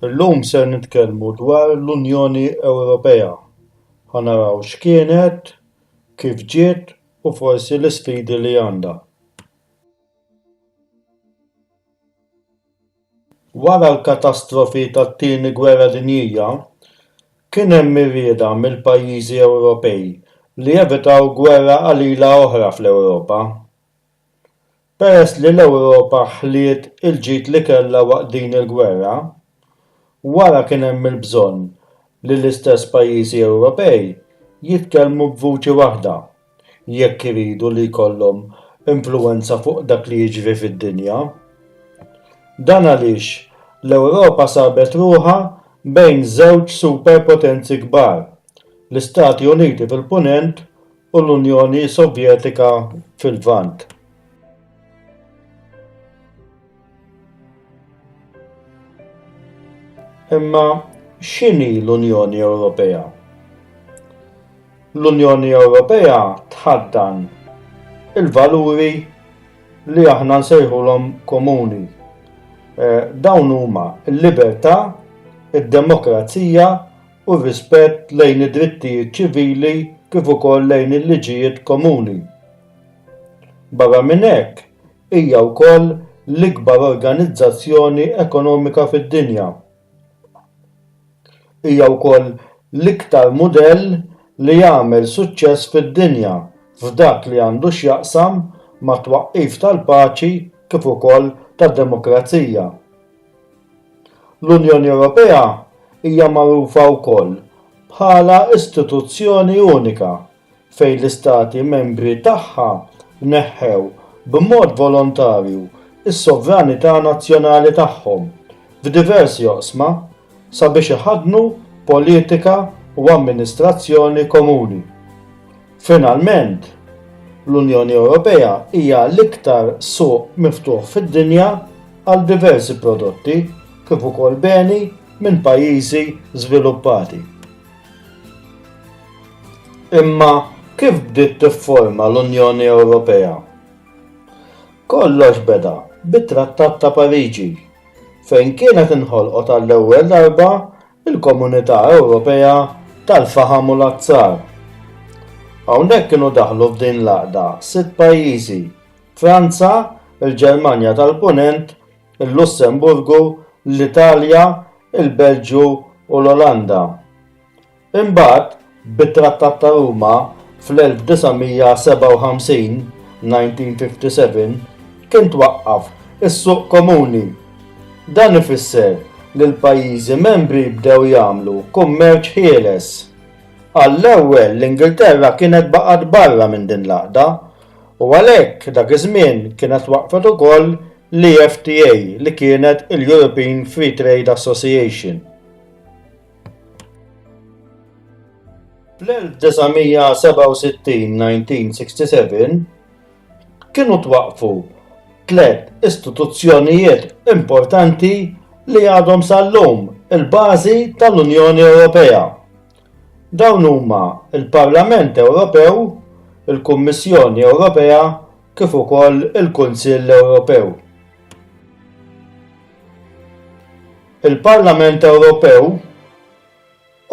Illum ser nitkellmu dwar l-Unjoni Ewropea. Ħa naraw x'kienet, kif ġiet u forsi l-isfidi li għandha. Wara l-katastrofi tat-Tieni Gwerra Dinjija, kien hemm ir-rieda mill-pajjiżi Ewropej li jevitaw gwerra qalila oħra fl-Ewropa. Peress li l-Ewropa ħliet il-ġid li kellha waqt din il-gwerra, wara kien hemm il-bżonn li l-istess pajjiżi Ewropej jitkellmu b'vuċi waħda jekk iridu li jkollhom influwenza fuq dak li jiġri fid-dinja. Dan għaliex l-Ewropa sabet ruħha bejn żewġ superpotenzi kbar, l-Istati Uniti fil-Punent u l-Unjoni Sovjetika fil-Lvant. Imma x'inhi l-Unjoni Ewropea? L-Unjoni Ewropea tħaddan il-valuri li aħna nsejħulhom komuni. Eh, dawn huma l-libertà, id-demokrazija, u r-rispett lejn id-drittijiet ċivili kif ukoll lejn il-liġijiet komuni. Barra minn hekk, hija wkoll l-ikbar organizzazzjoni ekonomika fid-dinja. Hija wkoll l-iktar mudell li għamel suċċess fid-dinja f'dak li għandu x'jaqsam mat-twaqqif tal-paċi kif ukoll tad-demokrazija. L-Unjoni Ewropea hija magħrufa wkoll bħala istituzzjoni unika fejn l-Istati Membri tagħha neħħew b'mod volontarju s-sovranità nazzjonali tagħhom f'diversi oqsma sabiex iħaddnu politika u amministrazzjoni komuni. Finalment, l-Unjoni Ewropea hija l-iktar suq miftuħ fid-dinja għal diversi prodotti kif ukoll beni minn pajjiżi żviluppati. Imma kif bdiet tifforma l-Unjoni Ewropea? Kollox beda bit-Trattat ta' Pariġi, fejn kienet inħolqot għall-ewwel darba il-Komunità Ewropea tal-Faħam u l-Azzar. Hawnhekk kienu daħlu f'din l-għaqda sitt pajjiżi, Franza, il-Ġermanja tal-Punent, il-Lussemburgu, l-Italja, il-Belġju u l-Olanda. Imbagħad Bit-Trattat ta' Ruma fl-1957, 1957, kien twaqqaf is-Suq Komuni. Dan ifisser li l-pajjiżi membri bdew jagħmlu kummerċ ħieles. Għall-ewwel l-Ingilterra kienet baqgħet barra minn din l-għaqda u għalhekk dak iż-żmien kienet waqqfet ukoll l-EFTA li kienet il-European Free Trade Association. Fl-1967-1967 kienu twaqfu tliet istituzzjonijiet importanti li għadhom sal-lum il-bażi tal-Unjoni Ewropea. Dawn huma l-Parlament Ewropew, il-Kummissjoni Ewropea, kif ukoll il-Kunsill Ewropew. Il-Parlament Ewropew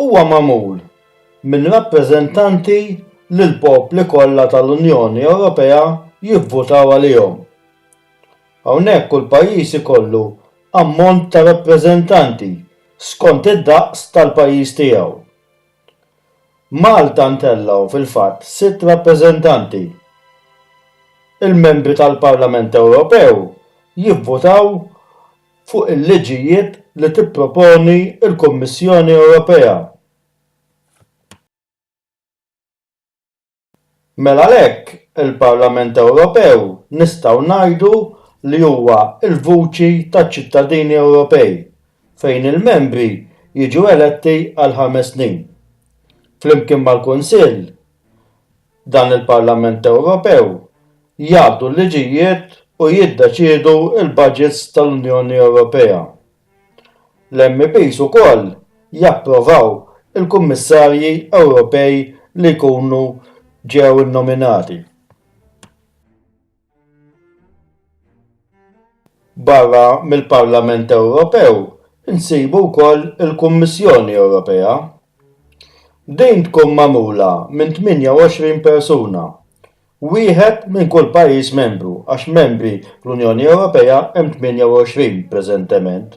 huwa magħmul minn rappreżentanti li l-popli kollha tal-Unjoni Ewropea jivvutaw għalihom. Hawnhekk kull pajjiż ikollu ammont ta' rappreżentanti skont id-daqs tal-pajjiż tiegħu. Malta ntellgħu fil-fatt sitt rappreżentanti. Il-membri tal-Parlament Ewropew jivvutaw fuq il-liġijiet li tipproponi l-Kummissjoni Ewropea. Mela għalhekk il-Parlament Ewropew nistgħu ngħidu li huwa l-vuċi taċ-ċittadini Ewropej fejn il-membri jiġu eletti għal ħames snin. Flimkien mal-Kunsill, dan il-Parlament Ewropew jgħaddu l-liġijiet u jiddeċiedu l-baġits tal-Unjoni Ewropea. L-MEPs ukoll japprovaw il-Kummissarji Ewropej li jkunu ġew innominati. Barra mill-Parlament Ewropew insibu wkoll il-Kummissjoni Ewropea. Din tkun magħmula minn 28 persuna Wieħed minn kull pajjiż membru għax membri fl-Unjoni Ewropea hemm 28 preżentement.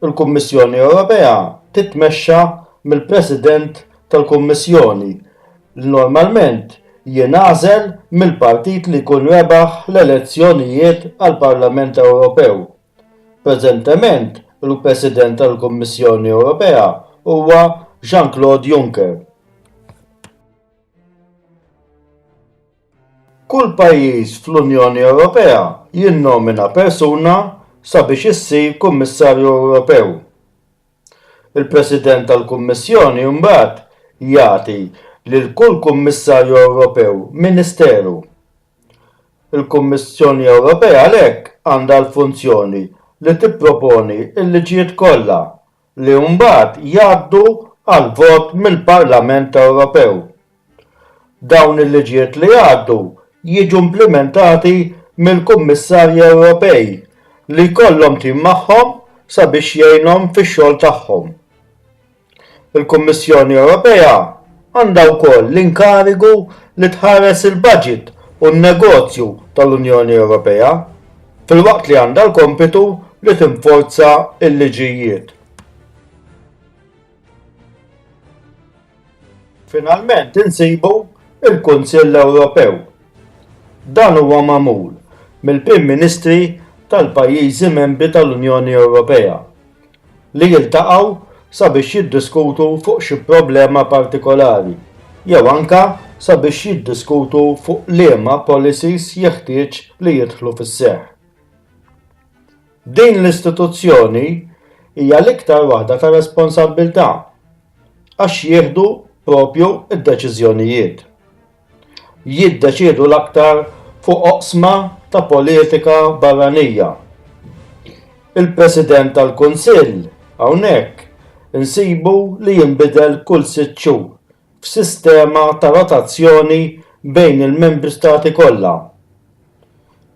Il-Kummissjoni Ewropea titmexxa mill-President tal-Kummissjoni li normalment jingħażel mill-partit li jkun rebaħ l-elezzjonijiet għall-Parlament Ewropew. Preżentement il-President tal-Kummissjoni Ewropea huwa Jean-Claude Juncker. Kull pajjiż fl-Unjoni Ewropea jinnomina persuna sabiex issir Kummissarju Ewropew. Il-President tal-Kummissjoni mbagħad jagħti lil kull Kummissarju Ewropew ministeru. Il-Kummissjoni Ewropea għalhekk għandha l-funzjoni li tipproponi l-liġijiet kollha li mbagħad jgħaddu għall-vot mill-Parlament Ewropew. Dawn il-liġijiet li jgħaddu jiġu implimentati mill-Kummissarji Ewropej li jkollhom tim magħhom sabiex jgħinhom fix-xogħol tagħhom. Il-Kummissjoni Ewropea għandha wkoll l-inkarigu li tħares il-baġit u n-negozju tal-Unjoni Ewropea. filwaqt li għandha l-kompitu li tinforza l-liġijiet. Finalment insibu il-Kunsill Ewropew. Dan huwa magħmul mill-Prim Ministri tal-pajjiżi membri tal-Unjoni Ewropea li jiltaqgħu sabiex jiddiskutu fuq xi problema partikolari jew anke sabiex jiddiskutu fuq liema policies jeħtieġ li jidħlu fis-seħħ. Din l-istituzzjoni hija l-iktar waħda ta' responsabbiltà għax jieħdu proprju d-deċiżjonijiet. jiddeċiedu l-aktar fuq oqsma ta' politika barranija. Il-President tal-Kunsill hawnhekk insibu li jinbidel kull sitt xhur f'sistema ta' rotazzjoni bejn il-Membri Stati kollha.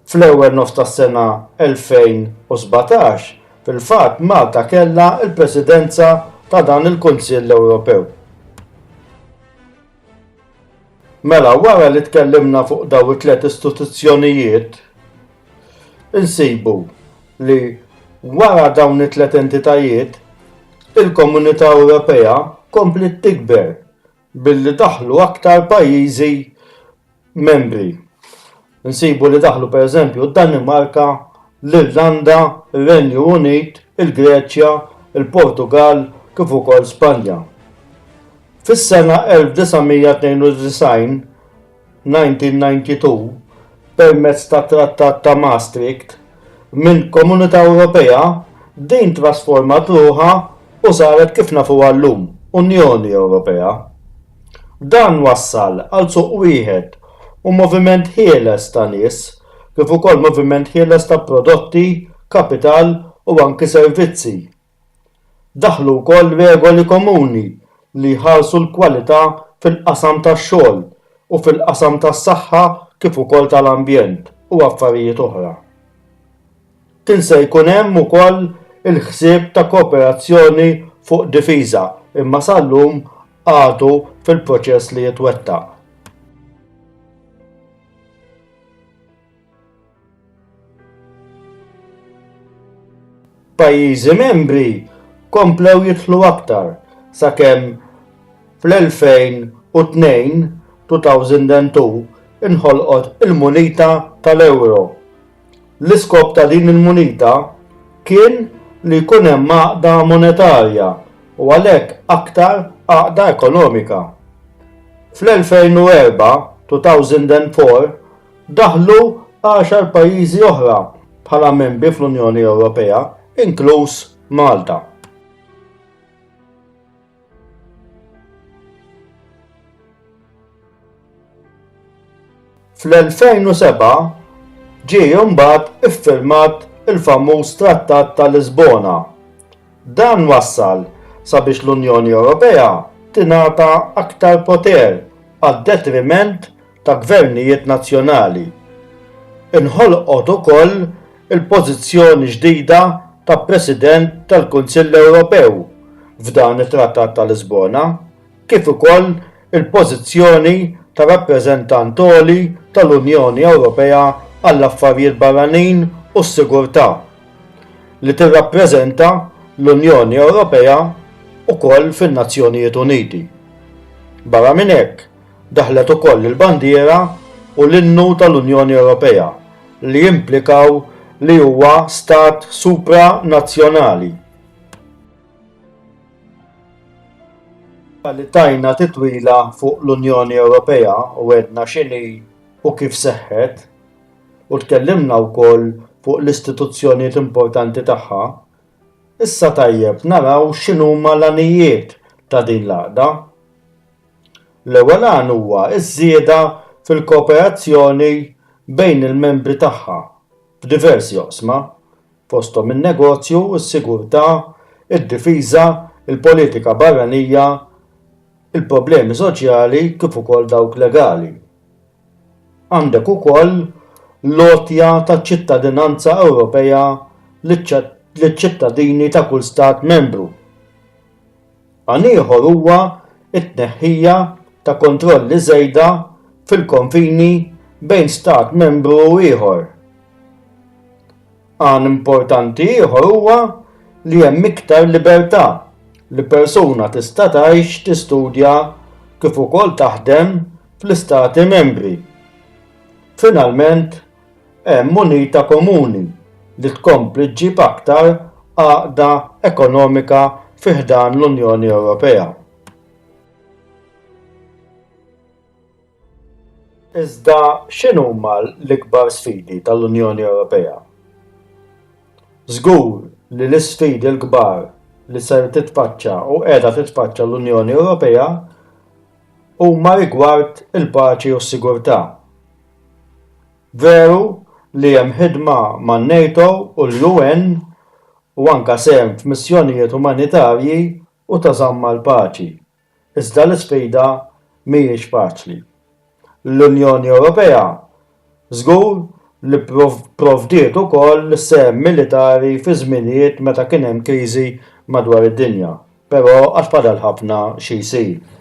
Fl-ewwel nofs tas-sena 2017, fil-fatt Malta kellha l-Presidenza ta' dan il-Kunsill Ewropew. Mela, wara li tkellimna fuq daw it-tliet istituzzjonijiet, insibu li wara dawn it-tliet entitajiet, il-Komunità Ewropea kompliet tikber billi daħlu aktar pajjiżi Membri. Nsibu li daħlu pereżempju d-Danimarka, l-Irlanda, ir-Renju Unit, il-Greċja, il-Portugall kif ukoll Spanja. Fis-sena 1992, 1992, permezz tat-Trattat ta' Maastricht, mill-Komunità Ewropea, din trasformat ruħha u saret kif nafuha llum, Unjoni Ewropea. Dan wassal għal suq wieħed u moviment ħieles ta' nies, kif ukoll moviment ħieles ta' prodotti, kapital u anki servizzi. Daħlu wkoll regoli komuni li jħarsu l-kwalità fil-qasam tax-xogħol u fil-qasam tas-saħħa kif ukoll tal-ambjent u affarijiet oħra. Kien se jkun hemm ukoll il-ħsieb ta' kooperazzjoni fuq difiża imma sal-lum għadu fil-proċess li jitwettaq. Pajjiżi membri komplew jidħlu aktar sakemm fl-2002, 2002 inħolqot il-munita tal-euro. L-iskop ta' din il-munita kien li jkun hemm għaqda monetarja u għalhekk aktar għaqda ekonomika. Fl-2004, 2004 Daħlu għaxar pajjiżi oħra bħala membri fl-Unjoni Ewropea, inkluż Malta. Fl-2007 ġie imbagħad iffirmat il-famuż Trattat ta' Lisbona. Dan wassal sabiex l-Unjoni Ewropea tingħata aktar poter għad-detriment ta' gvernijiet nazzjonali. Inħolqot ukoll il-pożizzjoni ġdida ta' President tal-Kunsill Ewropew f'dan it-Trattat ta' Lisbona, kif ukoll il-pożizzjoni ta' Rappreżentant Għoli tal-Unjoni Ewropea għall-Affarijiet Barranin u s-Sigurtà, li tirrappreżenta l-Unjoni Ewropea wkoll fin-Nazzjonijiet Uniti. Barra minn hekk, Daħlet ukoll il-bandiera u l-innu tal-Unjoni Ewropea li jimplikaw li huwa stat supranazzjonali. Wara li tajna titwila fuq l-Unjoni Ewropea u għedna x'inhi u kif seħħet, u tkellimna wkoll fuq l-istituzzjonijiet importanti tagħha, issa tajjeb naraw x'inhuma l-għanijiet ta' din l-għaqda. L-ewwel għan huwa ż-żieda fil-kooperazzjoni bejn il-membri tagħha f'diversi oqsma, fosthom in-negozju, is-sigurtà, id-difiża, il-politika barranija, il-problemi soċjali kif ukoll dawk legali. Għandek ukoll l-għotja ta' ċittadinanza Ewropea liċ-ċittadini ta' kull Stat Membru. Għan ieħor huwa t-tneħħija ta' kontrolli żejda fil-konfini bejn Stat Membru u ieħor. Għan importanti ieħor huwa li hemm iktar libertà li persuna tista' tgħix, tistudja kif ukoll taħdem fl-Istati Membri. Finalment, hemm munita komuni li tkompli ġġib aktar għaqda ekonomika fi ħdan l-Unjoni Ewropea. Iżda x'inhuma l-ikbar sfidi tal-Unjoni Ewropea? Żgur li l-isfidi l-kbar li ser titfaċċa u qiegħda titfaċċa l-Unjoni Ewropea huma rigward il-paċi u s-sigurtà. Veru li hemm ħidma man-NATO u l-UN u anke sehem f'missjonijiet umanitarji u ta' żamm għall-paċi, iżda l-isfida mhijiex faċli. L-Unjoni Ewropea Żgur li pprovdiet ukoll sehem militari fi żminijiet meta kien hemm kriżi madwar id-dinja, però għad fadal ħafna xi jsir.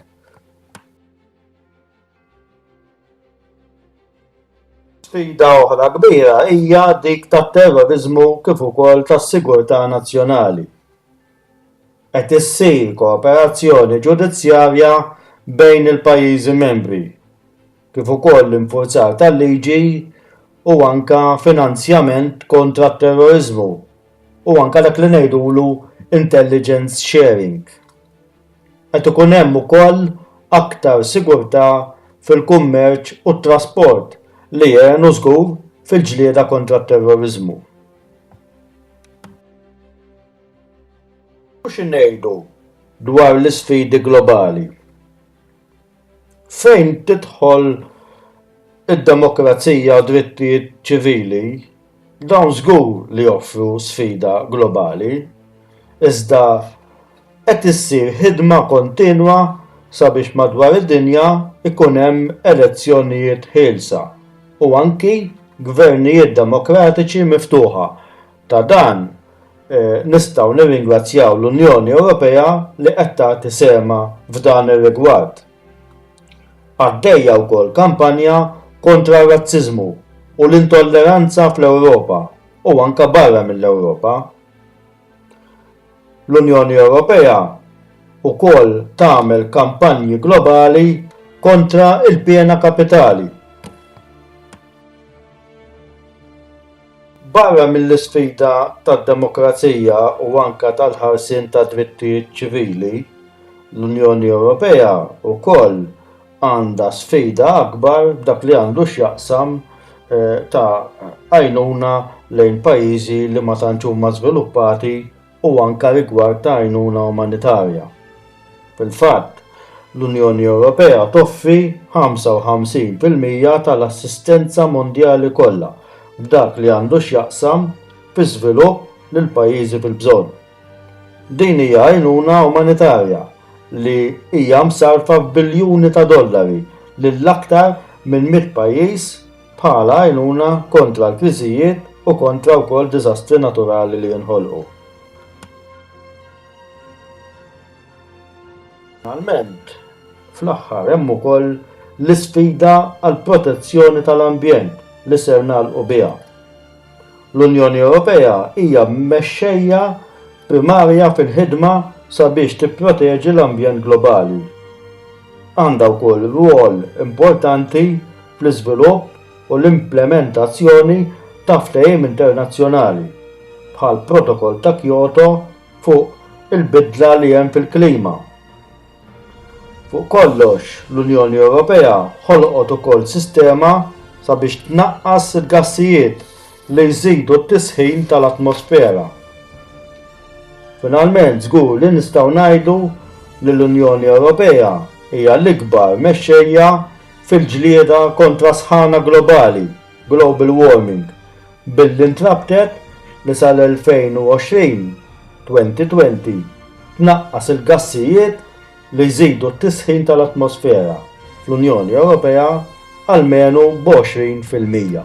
Sfida oħra kbira hija dik tat-terroriżmu kif ukoll tas-sigurtà nazzjonali. Qed issir kooperazzjoni ġudizzjarja bejn il-pajjiżi membri. kif ukoll l-infurzar tal-liġi u anke finanzjament kontra t-terroriżmu u anke dak li ngħidulu intelligence sharing. Qed ikun hemm ukoll aktar sigurtà fil-kummerċ u t-trasport li jgħinu żgur fil-ġlieda kontra t-terroriżmu. U xi ngħidu dwar l-isfidi globali? Fejn tidħol id-demokrazija u drittijiet ċivili, dawn żgur li joffru sfida globali, iżda qed issir ħidma kontinwa sabiex madwar id-dinja jkun hemm elezzjonijiet ħielsa u anki gvernijiet demokratiċi miftuħa. Ta' dan nistgħu nirringrazzjaw l-Unjoni Ewropea li qed tagħti sehemha f'dan ir-rigward. Għaddejja wkoll kampanja kontra r-razziżmu u l-intolleranza fl-Ewropa u anke barra mill-Ewropa. L-Unjoni Ewropea wkoll tagħmel kampanji globali kontra l-piena kapitali. Barra mill-isfida tad-demokrazija u anke tal-ħarsien tad-drittijiet ċivili, l-Unjoni Ewropea wkoll għandha sfida akbar b'dak li għandu x'jaqsam eh, ta' għajnuna lejn pajjiżi li ma tantx huma żviluppati u anke rigward ta' għajnuna umanitarja. Fil-fatt, l-Unjoni Ewropea toffri 55 fil-mija tal-assistenza mondjali kollha f'dak li għandu x'jaqsam fiż-żvilupp lil pajjiżi fil-bżonn. Din hija għajnuna umanitarja li hija msarrfa f'biljuni ta' dollari lil aktar minn mitt pajjiż bħala għajnuna kontra l-kriżijiet u kontra wkoll diżastri naturali li jinħolqu. Finalment, fl-aħħar hemm ukoll l-isfida għall-protezzjoni tal-ambjent li ser nagħlqu biha. L-Unjoni Ewropea hija mexxejja primarja fil-ħidma sabiex tipproteġi l-ambjent globali. Għandha wkoll rwol importanti fl-iżvilupp u l-implementazzjoni ta' ftehim internazzjonali, bħall-Protokoll ta' Kyoto fuq il-bidla li hemm fil-klima, Fuq kollox, l-Unjoni Ewropea ħolqot ukoll sistema sabiex tnaqqas il-gassijiet li jżidu t-tisħin tal-atmosfera. Finalment, żgur li nistgħu ngħidu li l-Unjoni Ewropea hija l-ikbar mexxejja fil-ġlieda kontra s-sħana globali. global warming, billi ntrabtet li sal-2020, 2020, tnaqqas il-gassijiet li jżidu t-tisħin tal-atmosfera fl-Unjoni Ewropea almenu b'għoxrin fil-mija.